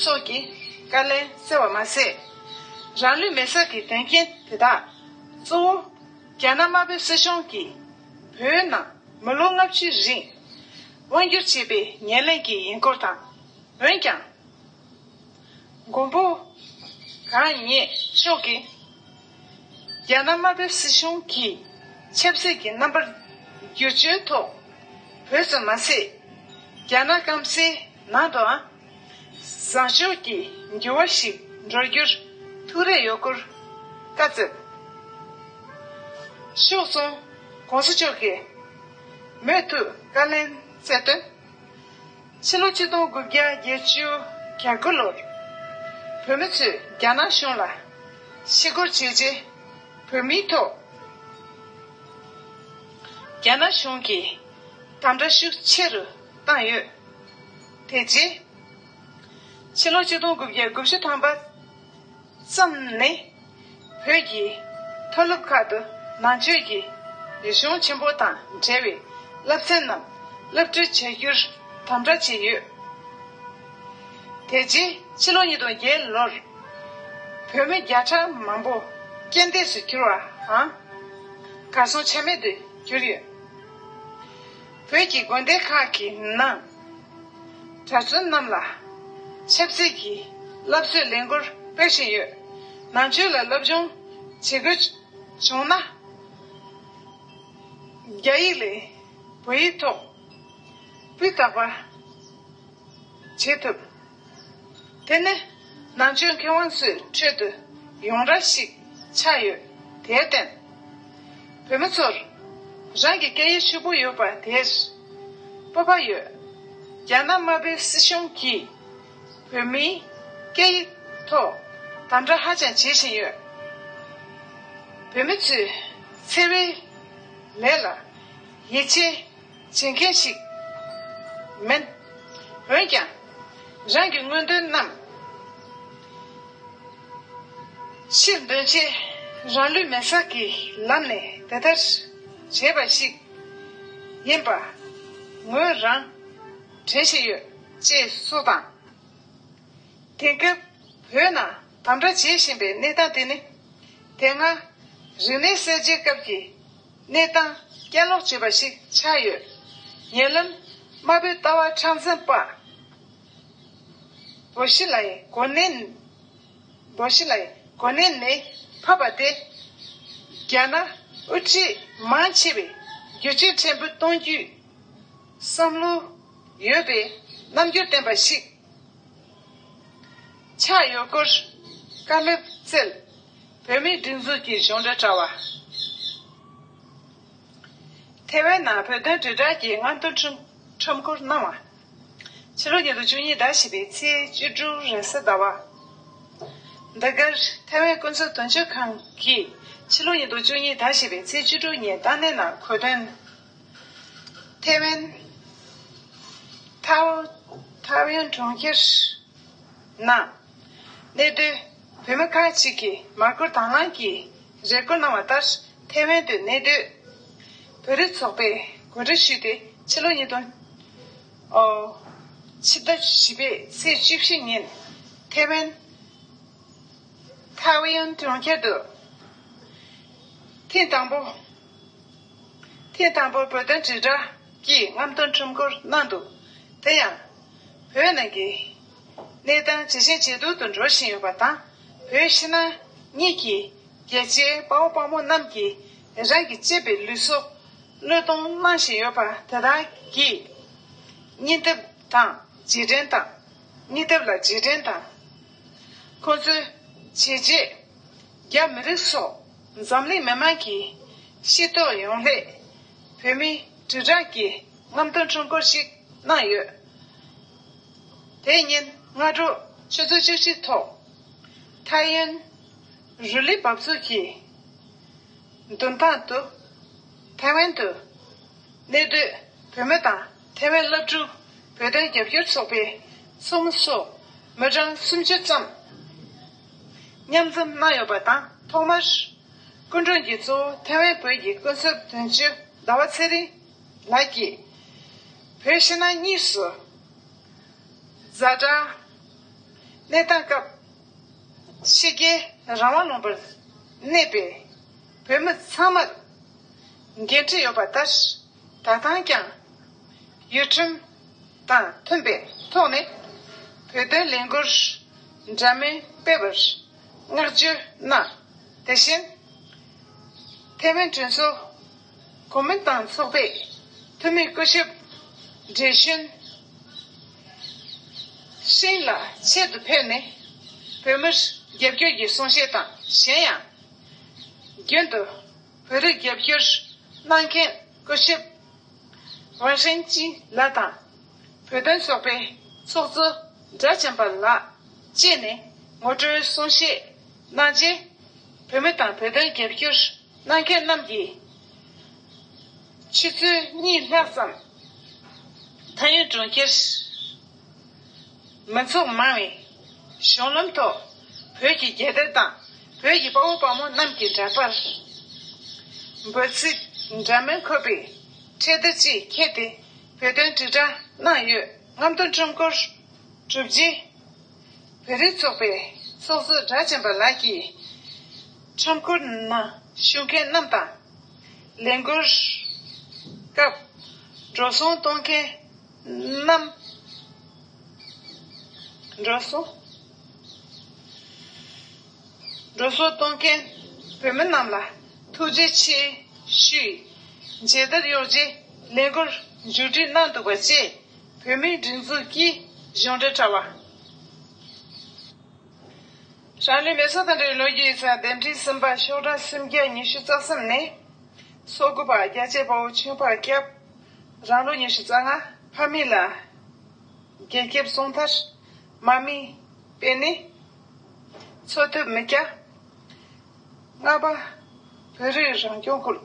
སོགས་ཀྱི་བཀའ་ལན་སྩལ་བ་མ་ཟད། རང་ལུས་མེར་བསྲེགས་ཀྱི་དོན་རྐྱེན་དེ་དག་གཙོ་བོ་རྒྱ་ནག་དམར་པོའི་སྲིད་གཞུང་གིས་བོད་ནང་མི་ལོ་ལྔ་བཅུའི་རིང་དབང་སྒྱུར་བྱས་པའི་ཉེར་ལེན་གྱིས་ཡིན་སྐོར་དང། འོན་ཀྱང། མགོན་པོ་གང་ཉིད་མཆོག་གིས། རྒྱ་ནག་དམར་པོའི་སྲིད་གཞུང་གིས་ཆབ་སྲིད་ཀྱི་རྣམ་པར་བསྒྱུར་བཅོས་ཐོག་བོད་ཙམ་མ་ཟད། རྒྱ་ནག་སྐམ་སའི་ནང་དུའང་བཟང་ཕྱོགས་ཀྱི་འགྱུར་བ་ཞིག་འགྲོ་རྒྱུར་ཐུགས་རེ་ཡོད་སྐོར་བཀའ་སྩལ། ཤོག་གསུམ ྋགོང་ས་མཆོག་གིས་མོས་མཐུན་བཀའ་ལན་སྩལ་དོན། ཕྱི་ལོ་གཅིག་སྟོང་དགུ་བརྒྱ་བརྒྱད་བཅུ་གྱ་དགུ་ལོར། བོད་མི་ཚོས་རྒྱ་ནག་གཞུང་ལ་ཕྱི་བསྐོར་བྱས་རྗེས། བོད་མིའི་ཐོག་རྒྱ་ནག་གཞུང་གིས་དམ་དྲག་ཤུགས་ཆེ་རུ་བཏང་ཡོད། དེ་རྗེས། ཕྱི་ལོ་གཅིག་སྟོང་དགུ་བརྒྱ་དགུ་བཅུ་ཐམ་པ། ཙམ་ནི། བོད་ཀྱི་མཐོ་སློབ་ཁག་ཏུ་ནང་ཆོས་ཀྱི་རིག་གཞུང་ཆེན་པོ་དང་འབྲེལ་བའི་བསླབ་ཚན་རྣམས་བསླབ་སྤྲོད་བྱ་རྒྱུར་དམ་དྲག་བྱས་ཡོད། དེ་རྗེས་ཕྱི་ལོ་ཉིས་སྟོང་བརྒྱད་ལོར་བོད་མི་བརྒྱ་ཕྲག་མང་པོ་རྐྱེན་འདས་སུ་གྱུར་བའང་གར་སོང་ཆ་མེད་དུ་གྱུར་ཡོད། བོད་ཀྱི་དགོན་སྡེ་ཁག་གི་ནང། གྲྭ་བཙུན་རྣམས་ལ་ཆབ་སྲིད་ཀྱི་བསླབ་གསོའི་ལས་འགུལ་སྤེལ་བཞིན་ཡོད། ནང་ཆོས་ལ་སློབ་སྦྱོང་བྱེད་དགོས་བྱུང་ན། རྒྱ་ཡིག་ལས་བོད་ཡིག་ཐོག་སྤུས་དག་པ་བྱེད་ཐུབ། དེ་ནི། ནང་ཆོས་མཁས་དབང་ཚོའི་ཁྲོད་དུ། ཡོངས་ར་ཞིག་ཆགས་ཡོད། དེའི་རྟེན། བོད་མི་ཚོར། རང་གི་སྐད་ཡིག་ཧྲིལ་པོ་ཡོད་པ་དེར། སྤོབས་པ་ཡོད། རྒྱ་ནག་དམར་པོའི་སྲིད་གཞུང་གིས། བོད་མིའི། སྐད་ཡིག། ཐོག། དམ་དྲག་ཧ་ཅང་བྱེད་བཞིན་ཡོད། བོད་མི་ཚོའི། འཚེ་བའི། ལས་ལ། ཡིད་ཆེས། བྱེད་མཁན་ཞིག་མིན། འོན་ཀྱང། རང་གི་དངོས་དོན་རྣམས་ཕྱིར་འདོན་ཆེད་རང་ལུས་མེར་བསྲེགས་ཀྱི་ལམ་ནས་དེ་ལྟར་བྱས་པ་ཞིག་ཡིན་པ་ངོས་རང་དྲན་བཞིན་ཡོད་ཅེས་སོགས་དང། དེང་སྐབས་བོད་ནང་དམ་དྲག་བྱེད་བཞིན་པའི་གནས་སྟངས་དེ་ནི། དེ་སྔ་རིག་གནས་གསར་བརྗེའི་སྐབས་ཀྱི། གནས་སྟངས་བསྐྱར་ལོག་བྱེད་པ་ཞིག་ཆགས་ཡོད། ཉེ་ལམ། དམར་པོའི་ལྟ་བ་ཁྲག་འཛིན་དཔའ་བོ་ཞི་ལའི་གོ་གནས། བོ་ཞི་ལའི་གོ་གནས་ནས་ཕབ་པ་དེ། རྒྱ་ནག་དབུ་ཁྲིད་མང་ཆེ་བས་བསྒྱུར་བཅོས་ཕྲན་བུ་གཏོང་རྒྱུའི་བསམ་བློ་ཡོད་པའི་རྣམ་འགྱུར་བསྟན་པ་ཞིག་ཆགས་ཡོད་སྐོར་བཀའ་སློབ་སྩལ། བོད་མིའི་སྒྲིག་འཛུགས་ཀྱི་གཞུང་འབྲེལ་དྲ་བ། ཐེ་ཝན་ནང་བོད་དོན་དྲིལ་བསྒྲགས་ཀྱི་སྔ་འདོན་ཁྲོམ་སྐོར་གནང་བ། ཕྱི་ལོ་ཉིས་སྟོང་བཅུ་གཉིས་ཟླ་བཞི་པའི་ཚེས་བཅུ་དྲུག་རེས་གཟའ་ཟླ་བ། འདི་གར་ཐེ་ཝན་ཀུན་སྤྱོད་དོན་གཅོད་ཁང་གིས་ཕྱི་ལོ་ཉིས་སྟོང་བཅུ་གཉིས་ཟླ་བཞི་པའི་ཚེས་བཅུ་དྲུག་ཉིན་ཏཱ་ནན་ནང་གོ་དོན། ཐེ་ཝན། ཐའོ་ཡོན་གྲོང་ཁྱེར། ནང། གནས་སྡོད་བོད་མི་ཁག་ཅིག་གིས་མར་ཁུར་དྭངས་བླངས་ཀྱིས་རེ་སྐུལ་གནང་བ་ལྟར་ཐེ་ཝན་དུ་གནས་སྡོད་བོད་རིགས་ཚོགས་པས་གོ་སྒྲིག་ཞུས་ཏེ་ཕྱི་ལོ་ཉིས་སྟོང། ཕྱི་ཟླ་བཞི་པའི་ཚེས་བཅུ་བཞི་ཉིན་ཐེ་ཝན། Taoyuan། གྲོང་ཁྱེར་དུ་ཐེངས་དང་པོ། ཐེངས་དང་པོར་བོད་དོན་དྲིལ་བསྒྲགས་ཀྱིས་རྔམ་སྟོན་ཁྲོམ་སྐོར་གནང་འདུག་དེ་ཡང་བོད་ནང་གི་གནས་སྟངས་ཇེ་ཆེ་ཇེ་སྡུག་ཏུ་འགྲོ་བཞིན་ཡོད་པ་དང། བོད་ཕྱི་ནང་གཉིས་ཀྱི་རྒྱལ་གཅེས་དཔའ་བོ་དཔའ་མོ་རྣམས་ཀྱིས་རང་གི་གཅེས་པའི་ལུས་སྲོག་བློས་གཏོང་གནང་བཞིན་ཡོད་པ་དེ་དག་གིས། སྙིང་སྟོབས་དང་རྗེས་དྲན་དང། སྙིང་སྟོབས་ལ་རྗེས་དྲན་དང། ཁོང་ཚོའི་བྱས་རྗེས། རྒྱ་མི་རིགས་སོགས་འཛམ་གླིང་མི་དམངས་ཀྱི་ཤེས་རྟོགས་ཡོང་སླད། བོད་མི་དྲིལ་བསྒྲགས་ཀྱི་རྔམ་སྟོན་ཁྲོམ་སྐོར་ཞིག་གནང་ཡོད། དེ་ཉིན་སྔ་དྲོ་ཆུ་ཚོད་བཅུ་གཅིག་ཐོག་ཐའེ་ཡོན་རུ་ལི་འབབ་ཚུགས་ཀྱི་མདུན་ཐང་དུ་ཐའེ་ཝན་དུ་གནས་སྡོད་བོད་མི་དང་ཐའེ་ཝན་བླ་སྤྲུལ་བོད་དོན་རྒྱབ་སྐྱོར་ཚོགས་པའི་ཚོགས་མི་སོགས་མི་གྲངས་སུམ་ཅུ་ཙམ་མཉམ་འཛོམས་གནང་ཡོད་པ་དང་ཐོག་མར་སྐུ་མགྲོན་གྱི་གཙོ་བོ་ཐའེ་ཝན་བོད་ཀྱི་སྐུ་ཚབ་དོན་གཅོད་ཟླ་བ་ཚེ་རིང་ལགས་ཀྱིས། བོད་ཕྱི་ནང་གཉིས་སུ། བཟའ་བཅའ། གནས་སྟངས་སྐབས། ཕྱི་རྒྱལ་རང་དབང་ལུང་པར་གནས་པའི་བོད་མི་ཚང་མར། འགན་འཁྲི་ཡོད་པ་ལྟར། ད་ལྟའང་ཀྱང། ཡུལ་ཁྲིམས་དང་མཐུན་པའི་ཐོག་ནས། བོད་དོན་ལས་འགུལ་འདྲ་མིན་སྤེལ་བར་བསྔགས་བརྗོད་གནང། དེ་བཞིན། ཐའེ་ཝན་གྲོས་ཚོགས། གོ་མིན་ཏང་ཚོགས་པས་འཐུས་མི་སྐུ་ཞབས Zhe Chunxin ལ་ཆེད་དུ་ཕེབས་ནས་བོད་མིར་རྒྱབ་སྐྱོར་གྱི་གསུང་བཤད་དང་གཞན་ཡང། རྒྱུན་དུ་བོད་རིགས་རྒྱབ་སྐྱོར་གནང་མཁན་སྐུ་ཞབས Wang Hengqi ལགས་དང་བོད་དོན་ཚོགས་པའི་ཚོགས་གཙོ་སྦྲ་ཆེན་པ་ལགས་བཅས་ནས་ངོ་སྤྲོད་གསུང་བཤད་གནང་རྗེས། བོད་མི་དང་བོད་དོན་རྒྱབ་སྐྱོར་སྣང་མཁན་རྣམས་ཀྱི། ཕྱི་ཚུལ་གཉིས་སྣང་ཙམ། མཐའ་ཡུལ་གྲོང་ཁྱེར། མི་ཚོགས་མང་བའི། གཞུང་ལམ་ཐོག། བོད་ཀྱི་རྒྱལ་དར་དང། བོད་ཀྱི་དཔའ་བོ་དཔའ་མོ་རྣམས་ཀྱི་འདྲ་པར། འབོད་ཚིག། འདྲ་མིན་འཁོད་པའི། འཕྲེད་དར་བཅས་ཁྱེར་ཏེ། བོད་དོན་དྲིལ་བསྒྲགས་གནང་ཡོད། རྔམ་སྟོན་ཁྲོམ་སྐོར། གྲུབ་རྗེས། བེ་རི་ཚོགས་པའི་ཚོགས་གཙོ་སྦྲ་ཆེན་པ་ལགས་ཀྱིས། ཁྲོམ་སྐོར་ནང་ཞུགས་མཁན་རྣམས་དང། ལས་འགུལ་སྐབས་འགྲོ་སོང་གཏོང་མཁན་རྣམས། འགྲོ་སོང་གཏོང་མཁན་བོད་མི་རྣམས་ལ་ཐུགས་རྗེ་ཆེ་ཞུས། མཇལ་དར་གཡོག་རྗེས་ལས་འགུལ་མཇུག་སྒྲིལ་གནང་འདུག་པ་བཅས། བོད་མིའི་སྒྲིག་འཛུགས་ཀྱིས་གཞུང་འབྲེལ་དྲ་བ། ཧྲང་ལི་མེ་སོ་དང་འབྲེལ་བའི་ལོ་རྒྱུས་ཡིག་ཚང་ལྡེབ་འབྲིང་གསུམ་པ་ཤོག་གྲངས་སུམ་བརྒྱ་ཉི་ཤུ་རྩ་གསུམ་ནི། སོག་དགུ་པ་རྒྱལ་གཅེས་དཔའ་བོ་ཆོས་འཕགས་སྐྱབས། རང་ལོ་ཉི་ཤུ་རྩ་ལྔ་ཕ་མེས་ལ། རྒྱལ་སྐྱེབས་སྲོང་ཐར། མ་མི། དཔལ་ནི། འཚོ་ཐུབ་མི་སྐྱ། ལྔ་པ། བོད་རིགས་རང་སྐྱོང་ཁུལ།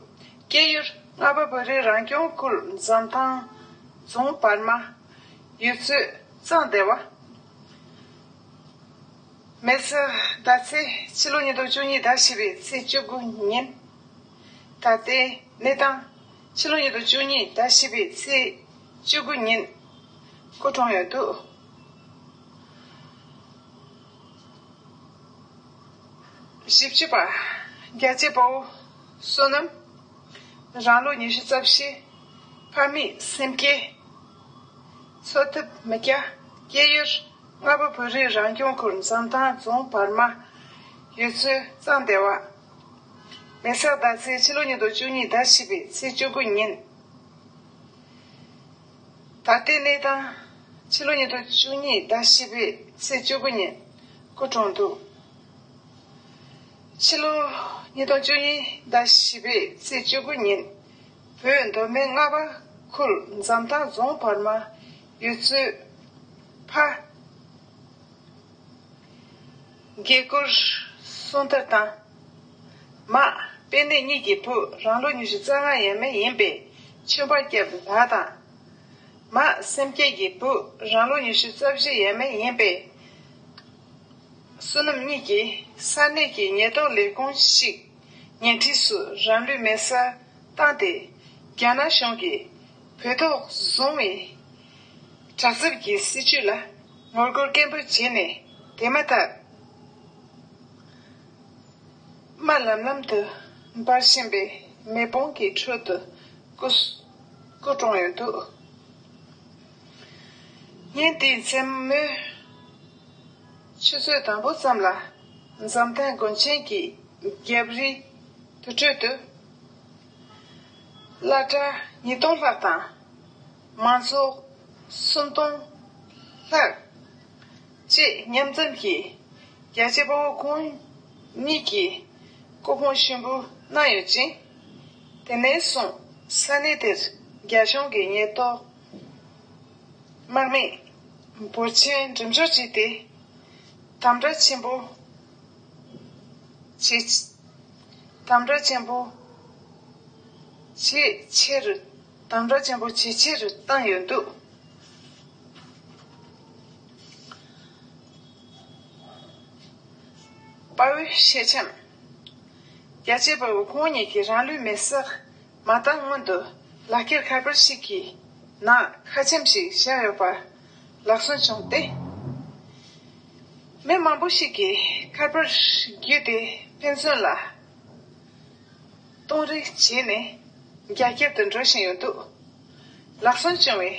སྐྱེས་ཡུལ། ལྔ་པ། བོད་རིགས་རང་སྐྱོང་ཁུལ་འཛམ་ཐང་རྫོང་བར་མ། ཡུལ་ཚོད། གཙང་སྡེ་བ། མེ་བཙའ་ཟླ་ཚེས་ཕྱི་ལོ་ཉིས་སྟོང་བཅུ་གཉིས་ཟླ་བཞི་པའི་ཚེས་བཅུ་དགུ་ཉིན། ད་ལྟའི་གནས་སྟངས། ཕྱི་ལོ་ཉིས་སྟོང་བཅུ་གཉིས་ཟླ་བཞི་པའི་ཚེས་བཅུ་དགུ་ཉིན། སྐུ་གྲོངས་ཡོད་འདུག། བཞི་བཅུ་པ། རྒྱལ་གཅེས་དཔའ་བོ་བསོད་ནམས། རང་ལོ་ཉི་ཤུ་རྩ་བཞི། ཕ་མེས་སེམས་བསྐྱེད། འཚོ་ཐབས་མི་སྐྱ། སྐྱེས་ཡུལ་རྔ་པ་བོད་རིགས་རང་སྐྱོང་ཁུལ་འཛམ་ཐང་རྫོང་བར་མ། ཡུལ་ཚོའི་གཙང་སྡེ་བ། མེ་སག་ཟླ་ཚེས་ཕྱི་ལོ་ཉིས་སྟོང་བཅུ་གཉིས་ཟླ་བཞི་པའི་ཚེས་བཅུ་དགུ་ཉིན། ད་ལྟའི་གནས་སྟངས། ཕྱི་ལོ་ཉིས་སྟོང་བཅུ་གཉིས་ཟླ་བཞི་པའི་ཚེས་བཅུ་དགུ་ཉིན་སྐུ་གྲོངས་འདུག་ཕྱི་ལོ་ཉིས་སྟོང་བཅུ་གཉིས་ཟླ་བཞི་པའི་ཚེས་བཅུ་དགུ་ཉིན་བོད་མདོ་སྨད་རྔ་པ་ཁུལ་འཛམ་ཐང་རྫོང་བར་མ་ཡུལ་ཚོའི་ཕ། དགྱེས་དགུར་གསུང་ཐབས་དང། མ། དཔེ་གནས་གཉིས་ཀྱི་བུ་རང་ལོ་ཉི་ཤུ་རྩ་ལྔ་ཡས་མས་ཡིན་པའི་ཆོས་པ་སྐྱབས་ལགས་དང། མ། སེམས་བསྐྱེད་ཀྱི་བུ་རང་ལོ་ཉི་ཤུ་རྩ་བཞི་ཡས་མས་ཡིན་པའི། བསོད་ནམས་གཉིས་ཀྱིས་ས་གནས་ཀྱི་ཉེས་རྟོག་ལས་ཁུངས་ཤིག་ཉེ་འཁྲིས་སུ་རང་ལུས་མེ་སར་བཏང་སྟེ། རྒྱ་ནག་གཞུང་གིས་བོད་ཐོག་བཟུང་བའི་དྲག་རྩུབ་ཀྱི་སྲིད་བྱུས་ལ་ངོ་རྒོལ་སྐད་འབོད་བྱས་ནས་དེ་མ་ཐག། དམའ་ལམ་ལམ་དུ་འབར་བཞིན་པའི་མེ་ཕོང་གི་ཁྲོད་དུ་སྐུ། སྐུ་གྲོངས་ཡོད་འདུག་ཉིན་དེའི་མཚན་མོའི་ཆུ་ཚོད་དང་པོ་ཙམ་ལ། འཛམ་ཐང་དགོན་ཆེན་གྱི་རྒྱབ་རིའི་དུར་ཁྲོད་དུ། བླ་གྲྭ་ཉིས་སྟོང་ལྷག་དང། མ་རྫོགས་སུན་སྟོང་ལྷག། ཅེས་མཉམ་འཛོམས་ཀྱིས་རྒྱ་ཆེ་དཔའ་བོ་ཀུན་ཉིད་ཀྱི་སྐུ་ཕུང་གཤིན་པོ་གནང་ཡོད་ཅིང། དེ་ནས་བཟུང་ས་གནས་དེར་རྒྱ་གཞུང་གི་ཉེན་རྟོག་དམག་མི་འབོར་ཆེན་འགྲེམས་འཇོག་བྱས་ཏེ་དམ་དྲག་ཆེན་པོ་བྱེད་ཆེད། དམ་དྲག་ཆེན་པོ་ཇི་ཆེར་བཏང་ཡོད་འདུག། དཔའ་བོའི་གཤེད་ཆམ། རྒྱལ་གཅེས་དཔའ་བོ་ཁོང་གཉིས་ཀྱིས་རང་ལུས་མེར་སྲེག་མ་བཏང་སྔོན་དུ་ལག་ཁྱེར་ཁ་པར་ཞིག་གི་ནང་ཁ་ཆེམས་ཤིག་བཞག་ཡོད་པ་ལག་གསོན་བྱུང་སྟེ། མི་མང་པོ་ཞིག་གིས་ཁ་པར་བརྒྱུད་དེ་ཕན་ཚུན་ལ། གཏོང་རེ་བྱས་ནས་རྒྱ་སྐྱེད་དུ་འགྲོ་བཞིན་ཡོད་འདུག་ལག་བསམ་བྱུང་བའི་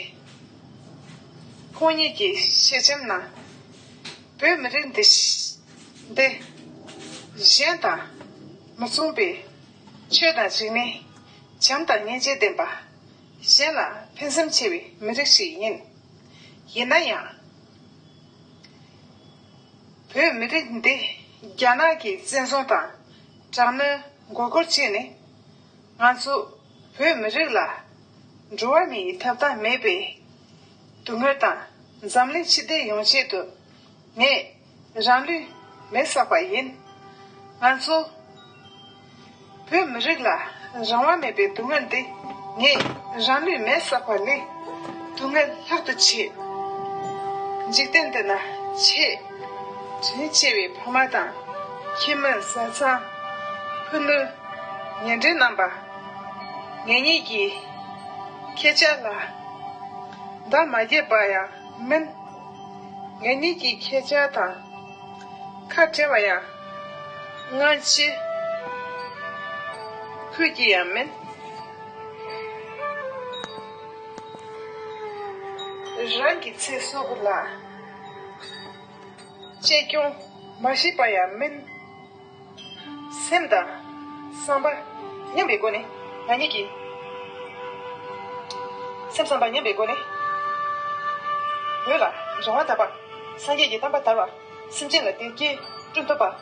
ཁོང་ཉིད་ཀྱི་ཤེས་བྱམས་ན། བོད་མི་རིགས་འདི་འདི་གཞན་དང་མི་མཚུངས་པའི་ཆོས་དང་རིག་གནས། བྱམས་དང་སྙིང་རྗེ་ལྡན་པ། གཞན་ལ་ཕན་སེམས་ཆེ་བའི་མི་རིགས་ཤིག་ཡིན། ཡིན་ན་ཡང། བོད་མི་རིགས་འདི་རྒྱ་ནག་གི་བཙན་བཟུང་དང། དྲག་གནོན་མགོ་སྐོར་བྱས་ནས། ང་ཚོ་བོད་མི་རིགས་ལ། འགྲོ་བ་མིའི་ཐབ་ཐང་མེད་པའི། དུག་ངོས་དང་འཛམ་གླིང་ཕྱི་བདེ་ཡོང་ཆེད་དུ། ངས་རང་ལུས་མེ་བསགས་པ་ཡིན། ང་ཚོ་བོད་མི་རིགས་ལ། རང་དབང་མེད་པའི་དུག་ངོས་འདི། ངས་རང་ལུས་མེ་བསགས་པ་ལས། དུག་ངོས་ལྷག་ཏུ་ཆེ། འཇིག་རྟེན་འདི་ན་ཆེས། དྲིན་ཆེ་བའི་ཕ་མ་དང། ཁྱིམ་མི་བཟའ་ཚང། ཕུ་ནུ། ཉེ་འབྲེལ་རྣམ་པ། ངེད་གཉིས་ཀྱིས། ཁྱེད་ཅག་ལ། འདང་མ་རྒྱས་པ་ཡང་མིན། ངེད་གཉིས་ཀྱིས་ཁྱེད་ཅག་དང། ཁ་བྲལ་བ་ཡང། སྔོན་ཆད། ཁུལ་གྱི་ཡང་མིན། རང་གི་ཚེ་སྲོག་ལ། གཅེས་སྐྱོང་མ་བྱས་པ་ཡང་མིན། སེམས་དང་བསམ་པ་མཉམ་པའི་སྒོ་ནས་ང་གཉིས་ཀྱིས། སེམས་བསམ་པ་མཉམ་པའི་སྒོ་ནས། བོད་ལ་འབྱུང་བ་དག་པ་སངས་རྒྱས་ཀྱི་གཏམ་དཔའ་དར་བ་སེམས་ཅན་ལ་བདེ་སྐྱིད་བསྐྲུན་ཐུབ་པ།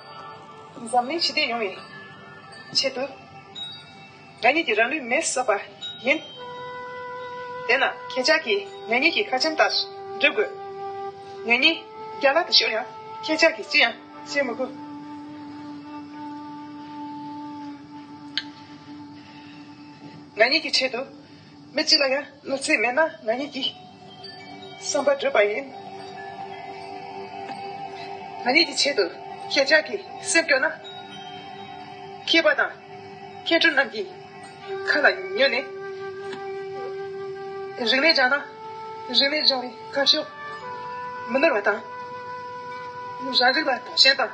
འཛམ་གླིང་ཞི་བདེ་ཡོང་བའི་ཆེད་དུ། ང་ཉིད་ཀྱི་རང་ལུས་མེར་བསྲེགས་པ་ཡིན། དེས་ན་ཁྱེད་ཅག་གིས་ང་ཉིད་ཀྱི་ཁ་ཆེམས་ལྟར་བསྒྲུབ་དགོས། ང་ཉིད་རྒྱ་ལག་ཏུ་ཤོར་ཡང་ཁྱེད་ཅག་གིས་ཅི་ཡང་བྱེད་མི་དགོས། ང་ཉིད་ཀྱི་ཆེད་དུ། མི་གཅིག་ལ་ཡང་བློ་རྩེ་མེད་ན་ང་ཉིད་ཀྱི་བསམ་པ་འགྲུབ་པ་ཡིན། ང་ཉིད་ཀྱི་ཆེད་དུ་ཁྱེད་ཅག་གི་སེམས་སྐྱོ་ན། མཁས་པ་དང་མཁས་གྲུབ་རྣམས་ཀྱི་ཁ་ལ་ཉོན་ནས། རིག་གནས་སྦྱང་ན་རིག་གནས་སྦྱང་བའི་ཁ་ཕྱོགས་མི་ནོར་བ་དང། རང་རིགས་ལ་དོགས་ཞེན་དང།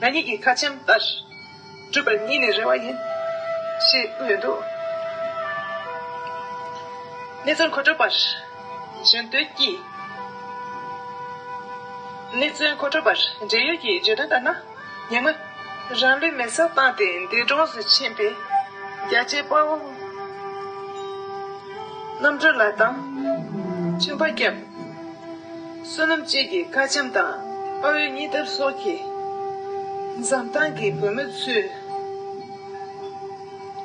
ང་ཉིད་ཀྱིས་ཁ་ཆེམས་ལྟར་སྤྲོད་པར་ཉིད་ནས་རེ་བ་ཡིན། ཞེས་གསུངས་ཡོད་འདུག་གནས་ཚུལ་མཁོ་སྤྲོད་པར་གཞན་དོན་གྱིས། གནས་ཚུལ་མཁོ་སྤྲོད་པར་འབྲེལ་ཡོད་ཀྱི་བརྗོད་དོན་ལྟར་ན། ཉེ་སྔོན། རང་ལུས་མེར་སྲེག་བཏང་སྟེ་འདས་གྲོངས་སུ་ཕྱིན་པའི་རྒྱལ་གཅེས་དཔའ་བོ་རྣམ་གྲོལ་ལགས་དང། མཆིམས་ཕ་སྐྱབས། བསོད་ནམས་སྐྱིད་ཀྱི་དཀར་འཇམ་དང་དཔའ་བོའི་གཉིས་འདབ་སོགས་ཀྱི། འཛམ་ཐང་གི་བུ་མོ་ཚུལ་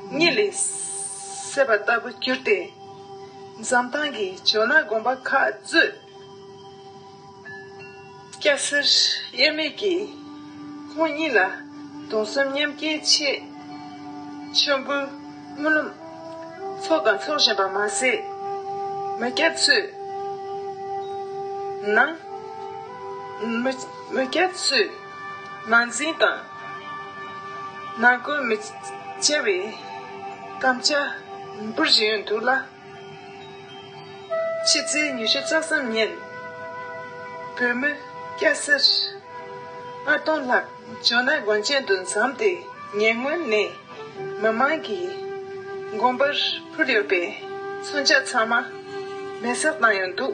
སྙིང་ལས་སད་པ་ལྟ་བུ་གྱུར་ཏེ། འཛམ་ཐང་གི་ཇོ་ནང་དགོན་པ་ཁག་གཙོས། སྐྱ་སེར་དབྱེར་མེད་ཀྱི། ཁོང་ཉིད་ལ་གདུང་སེམས་མཉམ་སྐྱེའི་ཆེད། མཆོད་འབུལ་སྨོན་ལམ་ཚོགས་དང་འཚོགས་བཞིན་པར་མ་ཟད། མི་སྐྱ་ཚོས་ནང། མི་སྐྱ་ཚོས་ནང་འཛིང་དང། ནང་རྐུན་མི་བྱ་བའི་དམ་བཅའ་འབུལ་བཞིན་ཡོད་འདུག་ལ། ཕྱི་ཚེས་ཉི་ཤུ་རྩ་གསུམ་ཉིན། བོད་མི་སྐྱ་སེར་ལྔ་སྟོང་ལྷག་ཇོ་ནང་དགོན་ཆེན་དུ་འཛོམས་ཏེ་ཉེ་སྔོན་ནས་མི་མང་གིས་དགོན་པར་འཕུར་ཡོད་པའི་མཚོན་ཆ་ཚང་མ་མེ་བསྲེགས་བཏང་ཡོད་འདུག།